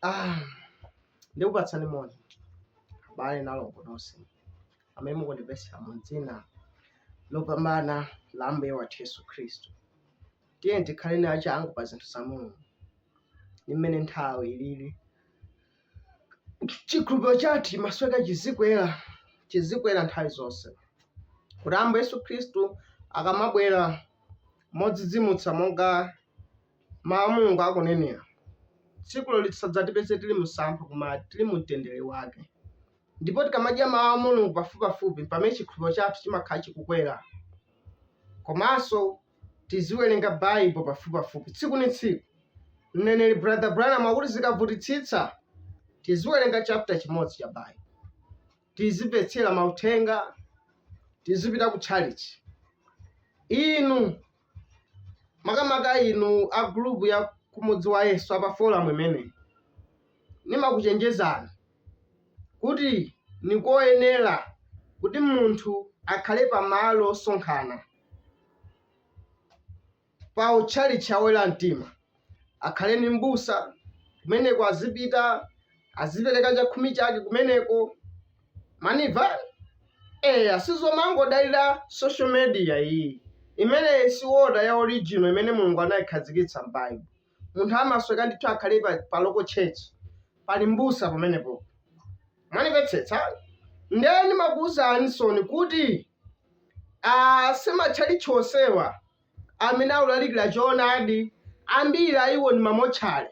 Ah, ndikupatsani moni abale ndi alongo nonse amene mukundimvetsera mu dzina lopambana la ambuye wathu yesu khristu Tiyeni tikhaleni achangu pa zinthu za Mulungu ndi mmene nthawi ilili. Chikhulupiriro chathu chimasoweka chizikwera, chizikwera nthawi zonse, kuti Ambuye Yesu Khristu akamabwera modzidzimutsa monga Mawu a Mulungu akunenera, tsikulo lisadzatipeze tili msampha koma tili mu mtendere wake. Ndipo tikamadya mawu a Mulungu pafupipafupi mpamene chikhulupiriro chathu chimakhala chikukwera. Komanso tiziwerenga Bible pafupipafupi tsiku ni tsiku. Mneneri Brother Branham akuti zikavutitsitsa tiziwerenga chapter chimodzi cha Bible. Tizimvetsera mauthenga, tizipita kutchalitchi. Inu makamaka inu a gulupu ya kumudziwa yesu apa folamu imeneyi nimakuchenjezani kuti nkoyenera kuti munthu akhale pamalo osonkhana pa tchalitchi cha oyera mtima akhale ndi m'busa kumeneko, azipita azipereka chakhumi chake kumeneko mwanimva eya sizomangodalira social media iyi imeneyi si order ya original imene mulungu anayikhazikitsa m'baibulo munthu amasoweka ndithu akhale pa, pa local church pali m'busa pamenepo mwanimvetsetsa ndiye ndimakuwuzani so ni kuti ah, simatchalitchi onsewa amene akulalikira choonadi, ambiri a iwo ndi mamotchale.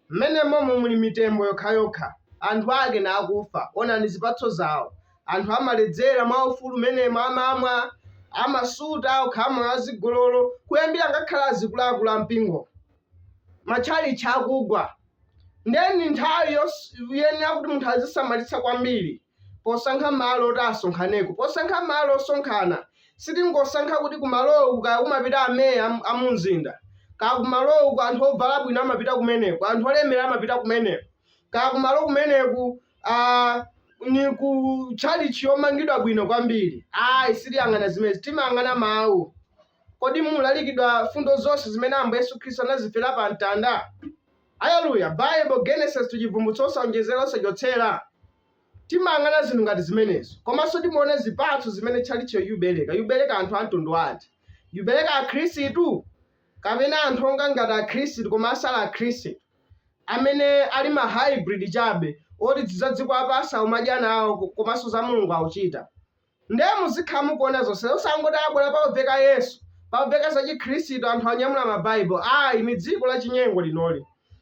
Mmenemomo muli mitembo yokhayokha, anthu ake ndi akufa. Onani zipatso zawo. Anthu amaledzera mwaufulu mmenemo, amamwa, amasuta, kukhala moyo wazigololo, kuyambira ngakhale azikuluakulu a mpingomo. Matchalitchi akugwa. Ndiye ndi nthawi yoyenera kuti munthu azisamalitsa kwambiri. posankha malo oti asonkhaneko. Posankha malo osonkhana, sitingosankha kuti kumaloku kaya kumapita ameya am- a mu mzinda, kaya kumaloku anthu ovala bwino amapita kumeneko, anthu olemera amapita kumeneko, kaya kumalo kumeneku ah, ni ku tchalitchi yomangidwa bwino kwambiri. Ayi, sitiyang'ana zimenezi, timayang'ana mawu. Kodi mukulalikidwa mfundo zonse zimene Ambuye Yesu Khristu anazifera pa mtanda? Aleluya! Baibo, Genesis to Cibvumbulutso, osaonjezela, osacotsela. Timayang'ana zinthu ngati zimenezo. Komanso timaona zipatso zimene tchalitchiyo ikubeleka. Yubeleka anthu a mtundu wanji? Yubeleka Akhristu? Kapena anthu onga ngati Akhristu koma asali Akhristu, amene ali ma haibridi cabe, oti za dziko lapansi akumadya nao, ko- komanso za Mulungu akucita? Nde muzikhala mukuona zonse osangoti abwela paobveka yesu paobveka za chikhristu anthu anyamula ma bible ayi ni dziko la chinyengo linoli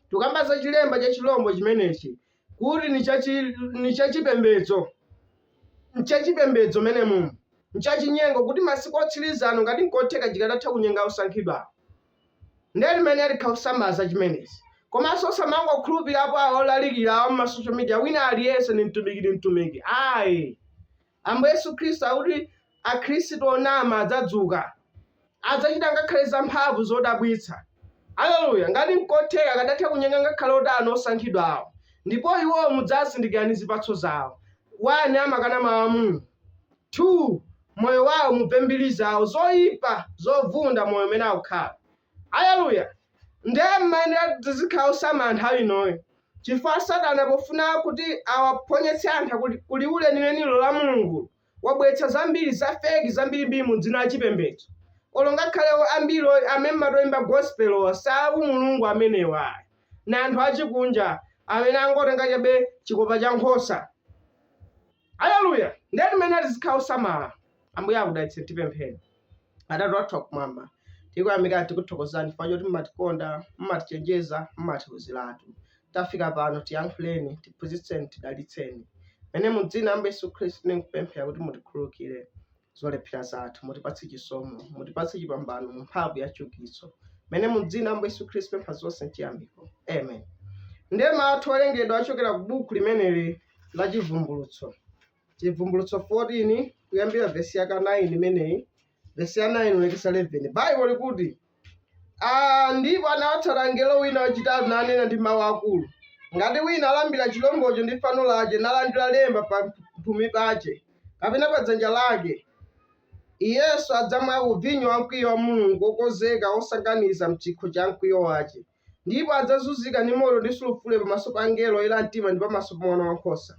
tikukamba za chilemba cha chilombo chimenechi kuti ni cha chi- ni cha chipembedzo ncha chipembedzo momwemo ncha chinyengo kuti masiku otsiliza ano ngati nkotheka chikadatha kunyenga osankhidwawo nde timayenera tikhale osamala za chimenezi komanso osamangokhulupirapo awa olalikira awa mma social media wina aliyese ndi mtumiki ndi mtumiki ayi ambuye yesu khristu akuti akhristu onama adzadzuka adzachita ngakhale za mphamvu zodabwitsa aleluya ngati nkotheka akadatha kunyenga ngakhale otani osankhidwawo ndipo iwowo mudzawazindikira ndi zipatso zawo 1 amakana mawu a mulungu 2 moyo wawo mumve mbiri zawo zoyipa zovunda moyo umene akukhala aleluya ndiye timayenera tizikhala osamala nthawi inoyi chifukwa satana pofuna kuti awaphonyetse anthu ku liwu linenilo la mulungulo wabweretsa zambiri za feki zambirimbiri mu dzina la chipembedzo olo ngakhale ambiri oy- amene amatoyimba gospelowa si a mulungu amenewa ndi anthu achikunja amene angotenga chabe chikopa cha nkhosa Aleluya! Ndiye timayenera tizikhala osamala. Ambuye akudalitseni tipemphere. Atate wathu wakumwamba, tikuyamikani tikuthokozani chifukwa choti mumatikonda, mumatichenjeza, mumatiuziratu. Tafika pano tiyankhuleni, tiphunzitseni, tidalitseni. Mene mu dzina la Ambuye Yesu Khristu tikupemphera kuti mutikhululukire. zolephera zathu mutipatse chisomo mutipatse chipambano mu mphamvu ya chiukitso mene mu dzina la ambuye yesu khristu tapempha zonse nchiyamiko amen ndiye mau athu owerengedwa achokera ku buku limeneli la chivumbulutso chivumbulutso 14 kuyambira vesi yake ya 9 imeneyi vesi ya 9 kulekeza 11 baibo likuti Aa, ndipo anawatsata mngelo wina wachitatu nanena ndi mawu akulu, ngati wina alambira chilombocho ndi fano lache, nalandira lemba pa mphumi pache kapena pa dzanja lake, iyenso adzamwako ku vinyo wa mkwiyo wa Mulungu wokonzeka wosanganiza m'chikho cha mkwiyo wache, ndipo adzazunzika ndi moto ndi sulufule pamaso pa angelo oyera mtima ndi pamaso pa Mwana Wankhosa.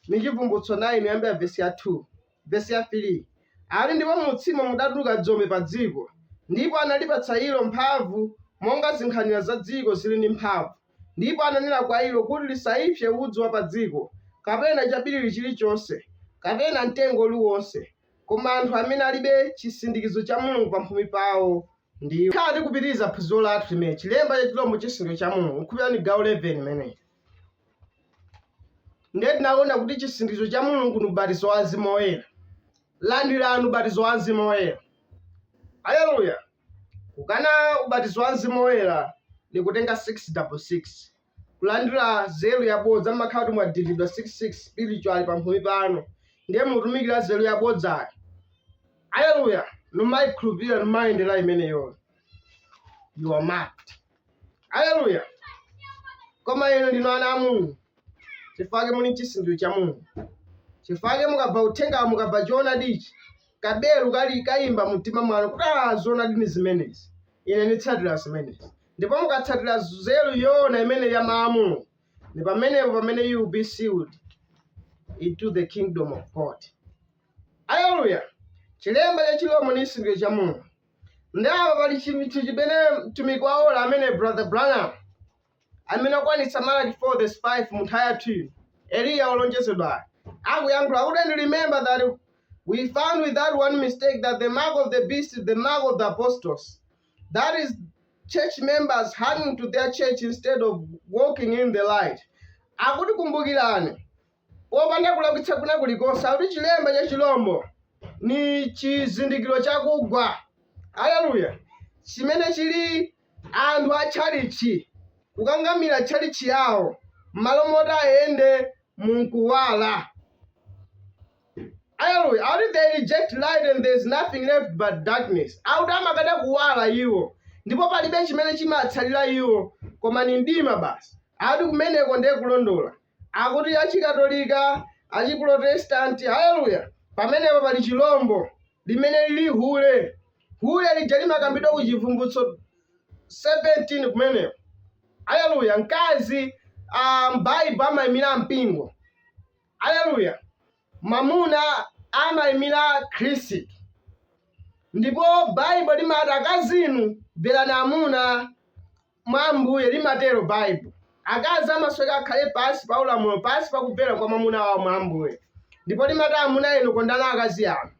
Ni Chivumbulutso 9 kuyambira vesi ya 2. Vesi ya 3, Ati, Ndipo mu utsimo mudatuluka dzombe pa dziko, ndipo analipatsa ilo mphamvu, monga zinkhanira za dziko ziri ndi mphamvu, ndipo ananena kwa ilo kuti lisaipse udzu wa padziko, kapena chabiriwiri chirichonse, kapena mtengo uli wonse, koma anthu amene alibe chisindikizo cha Mulungu pamphumi pawo, ndiwo. Tikhala tikupitiriza phunziro lathu limene Chilemba cha Chirombo Chisindikizo cha Mulungu, Nkhulupirira ni gawo 11 imeneyi. Ndiye tinaona kuti chisindikizo cha Mulungu ndi ubatizo wa Mzimu Woyera. Landirani ubatizo wa Mzimu Woyera. Haleluya! Kukana ubatizo wa Mzimu Woyera ndi kutenga 666. Kulandira nzeru yabodza mmakhala kuti mwadindidwa 66 spiritual pamphumi panu. Ndiye mutumikira nzeru yabodzayo. Haleluya! Numayikhulupirira numayendera imeneyo. You are marked. aleluya koma inu ndinu ana a mulungu chifukwa muli ni chisindikizo cha mulungu chifukwa mukabva uthenga mukabva choonadichi kabelu kali kayimba mu mtima mwanu kuti "Ah, zoonadi ni zimenezi ine nditsatira zimenezi ndipo mukatsatira nzeru yoona imene ya mawu a mulungu ndi pamenepo pamene you will be sealed into the kingdom of god aleluya chilemba cha chilombo ni chisindikizo cha mulungu Nde apa pali chinthu chimene mtumiki wa ola amene Brother Branham amene akwanitsa Malaki 4 verse 5 mu nthawi yathu ino, Eliya wolonjezedwayo akuyankhula kuti and remember that we found without one mistake that the mark of the beast is the mark of the apostasy that is church members hanging to their church instead of walking in the light akuti kumbukirani popanda kulakwitsa kwina kulikonse, akuti chilemba cha chilombo ni chizindikiro cha kugwa, aleluya, chimene chili anthu a tchalitchi kukangamira tchalitchi yawo m'malo moti ayende mu nkuwala. Aleluya, akuti they reject light and there is nothing left but darkness. Akuti amakana kuwala iwo ndipo palibe chimene chimatsalira iwo koma ni mdima basi. Akuti kumeneko ndiye kulondola. Akuti Achikatolika, Achiprotestanti. Aleluya! Pamenepo pali chirombo, limene liri hule. Hule lija limakambidwa ku Chivumbulutso 17 kumeneko. Aleluya! Mkazi a m'Baibulo amaimira mpingo. Aleluya! Mwamuna amaimira Khristu. Ndipo Baibulo limati, Akazi inu, mverani amuna mwa Ambuye, limatero Baibulo. Akazi amasoweka akhale pansi pa ulamuliro, pansi pa kumvera kwa mwamuna wawo mwa Ambuye. Ndipo limati, Amuna inu, kondani akazi anu.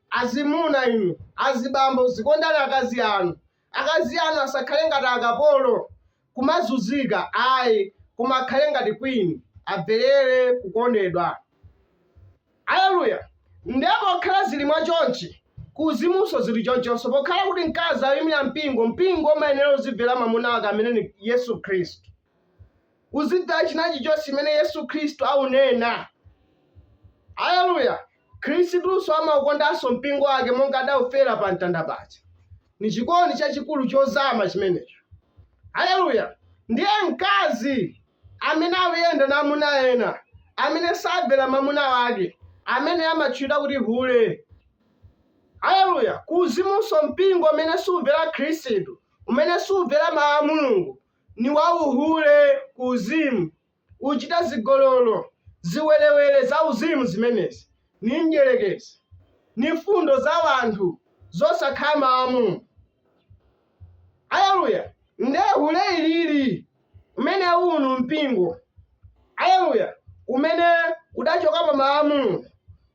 Azimuna inu, azibambo, zikondani akazi anu. Akazi anu asakhale ngati akapolo, kumazunzika, ayi, koma akhale ngati queen, amverere kukondedwa. Aleluya! Ndiye pokhala ziri mwa chonchi, ku uzimunso ziri chonchonso, pokhala kuti mkazi ayimira mpingo, mpingo umayenera uzibvera mamuna wake amene ni Yesu Khristu. Uzibvera china chilichonse chimene Yesu Khristu aunena. Aleluya! Khristunso amaukondanso mpingo wake monga adaufera pa mtanda paja. Ni chikondi chachikulu chozama chimenecho. Aleluya! Ndiye mkazi amene auyenda na amuna ena amene sabvela mamuna wake amene amatchulidwa kuti hule. Aleluya! Kuuzimunso, mpingo umene subvela Khristu, umene subvela Mau a Mulungu, ni wauhule kuuzimu. Ucita zigololo, ziwelewele zauzimu zimenezi. Ni mdyelekezi. Ni mfundo za wanthu zosakhala Mau a Mulungu. Aleluya! Nde hule ilili limene aunena mpingo, aleluya, umene udachoka pa Mawu a Mulungu,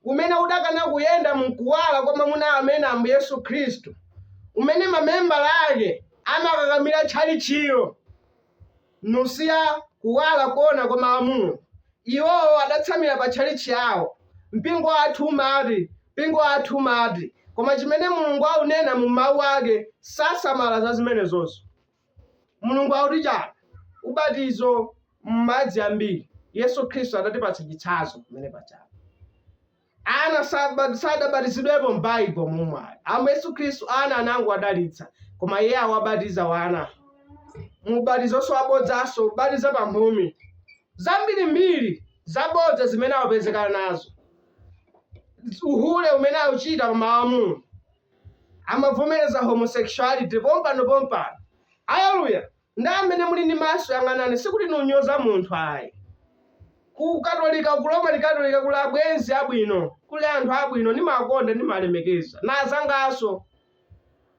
umene udakana kuyenda mu Kuwala kwa Mamuna ameneyu, Ambuye Yesu Khristu, umene mamembala ake amakakamira tchalitchilo. nkusiya kuwala koona kwa Mawu a Mulungu. Iwo adatsamira pa tchalitchi yawo, Mpingo wathu umati, mpingo wathu umati. Koma chimene Mulungu aunena mu Mawu Ake, sasamala za zimenezozo. Mulungu akuti chani? Ubatizo m'madzi ambiri. Yesu Khristu adatipatsa chitsanzo pamene pajapa. Ana sadabatizidwepo m'Baibo mumeneyi. Ambuye Yesu Khristu ana anangowadalitsa, koma Iye awabatiza wana mu ubatizonso wabodzanso, kubatiza pa mphumi zambirimbiri zabodza zimene awapezeka nazo, uhule umene auchita pa mawu a Mulungu, amavomereza homosexuality pompano pompano. Aleluya! Nde amene muli ndi maso yang'anani sikuti niunyoza munthu ayi. Ku katolika ku Roman katolika kuli abwenzi abwino kuli anthu abwino ndimakonda ndimalemekeza nazangaso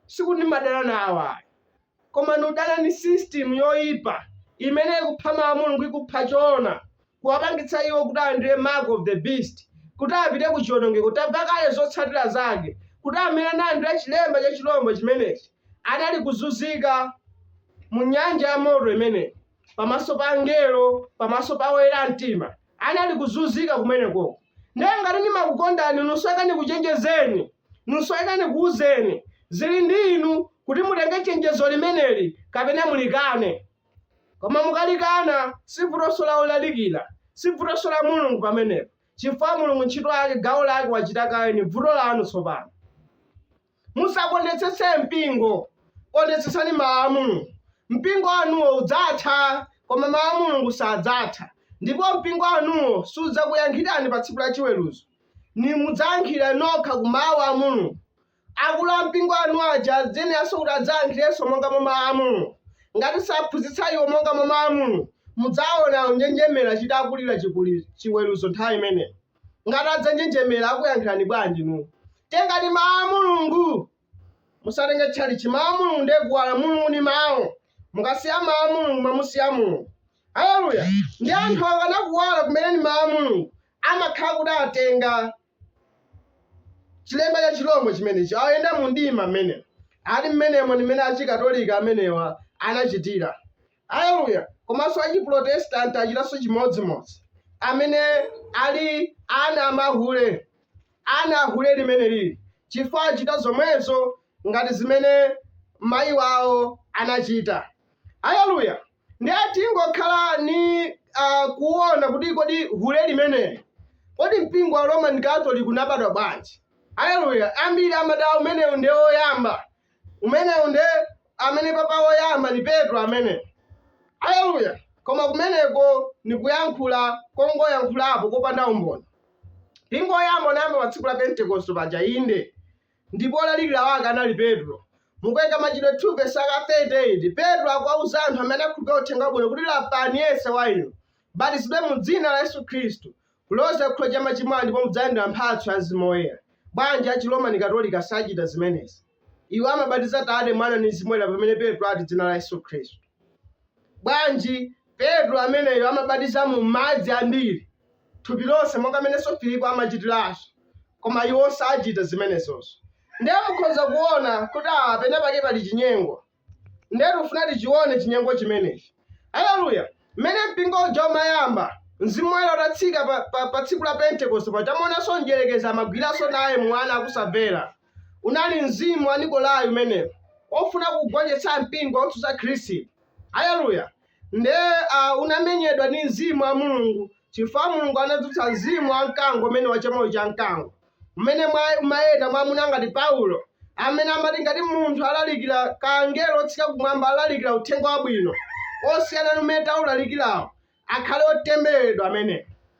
sikuti ndimadana nawo ayi koma niudana ni system yoyipa imene ikupha mawu a Mulungu ikupha choona kuwapangitsa iwo kuti alandire mark of the beast, kuti apite ku chiwonongeko, tamva kale zotsatira zake, kuti amene analandira chilemba cha chirombo chimenechi anali kuzunzika mu nyanja ya moto imeneyi, pamaso pa angelo, pamaso pa oyera mtima, anali kuzunzika kumenekoko. Ndiye ngati ndimakukondani inu, niusoweka ndikuchenjezeni, niusoweka ndikuwuzeni, zili ndi inu kuti mutenge chenjezo limeneli kapena mulikane. Koma mukalikana, si vutonso la olalikira, si vutonso la Mulungu pamenepo, chifukwa Mulungu ntchito yake, gawo lake wachita kale, ni vuto lanu tsopano. Musakondetsetse mpingo, kondetsetsani mawu a Mulungu. Mpingo wanuwo udzatha, koma mawu a Mulungu sadzatha, ndipo mpingo wanuwo sudzakuyankhirani pa tsiku la chiweruzo, nimudzayankhira nokha ku mawu a Mulungu. Akulu ampingo anu aja ziyeneranso kuti adzayankhirenso monga mwa Mawu a Mulungu. Ngati saphunzitsa iwo monga mwa Mawu a Mulungu, mudzawona akunjenjemera chitakulira chiweruzo nthawi imeneyo. Ngati adzanjenjemera, akuyankhirani bwanji inu? Tengani Mawu a Mulungu! Musatenge tchalitchi. Mawu a Mulungu ndiye Kuwala. Mulungu ndi Mawu. Mukasiya Mawu a Mulungu, mwamusiya Mulungu. Aleluya! Ndiye anthu akakana Kuwala, kumene ndi Mawu a Mulungu, amakhala kuti atenga. chilemba cha chilombo chimenechi ayenda mu mdima mmenemo ali mmenemo ndi mmene achikatolika amenewa anachitira aleluya komanso achiprotestanti achitanso chimodzimodzi amene ali ana amahule ana ahule limene lili chifukwa achita zomwezo ngati zimene mayi wawo anachita aleluya Ndiye tingokhalani uh, kuona kuti kodi hule limeneli kodi mpingo wa Roman Catholic unabadwa bwanji? Aleluya! Ambiri amati "Ah, umenewu ndiye woyamba, umenewu ndiye amene papa woyamba ni Petro amene. Aleluya! Koma kumeneko ni kuyankhula kongoyankhulapo kopanda umboni. Mpingo woyamba unayamba pa tsiku la Pentekoste paja, inde Ndipo olalikira wake anali Petro. Mu buku la machitidwe 2 vesi ya ka 38, Petro akuwauza anthu amene akhulupira uthenga wabwino kuti lapani yense wa inu, batizidwe mu dzina la Yesu Khristu, kuloza ku chikhululukiro cha machimo anu ndipo mudzalandira mphatso ya Mzimu Woyera. Bwanji a Chiromani Katolika sachita zimenezi? Iwo amabatiza Tate, Mwana ndi Mzimu Woyera pamene Petro ati dzina la Yesu Khristu. Bwanji Petro ameneyo amabatiza mu madzi ambiri thupi lonse, monga mmenenso Filipo amachitiranso, koma iwo sachita zimenezozo. Ndiye mukhoza kuwona kuti apa penapake pali chinyengo, ndiye tikufuna tichiwone chinyengo chimenechi. Aleluya! Mmene mpingo uja umayamba, Mzimu Woyera utatsika pa, pa, pa tsiku la Pentekoste paja, tamuonanso mdierekezi amagwiranso naye mwa ana akusamvera. Unali mzimu wa Nikolai umenewo, ofuna kugonjetsa mpingo otsutsa Khristu. Aleluya! Nde a unamenyedwa ndi mzimu wa Mulungu chifukwa Mulungu anadzutsa mzimu wa mkango umene wa chamoyo cha mkango umene mwa- umayenda mwa amuna ngati Paulo amene amati ngati munthu alalikira kaya mngelo otsika kumwamba alalikira uthenga wabwino osiyana ndi umene taulalikirawu akhale otembereredwa amene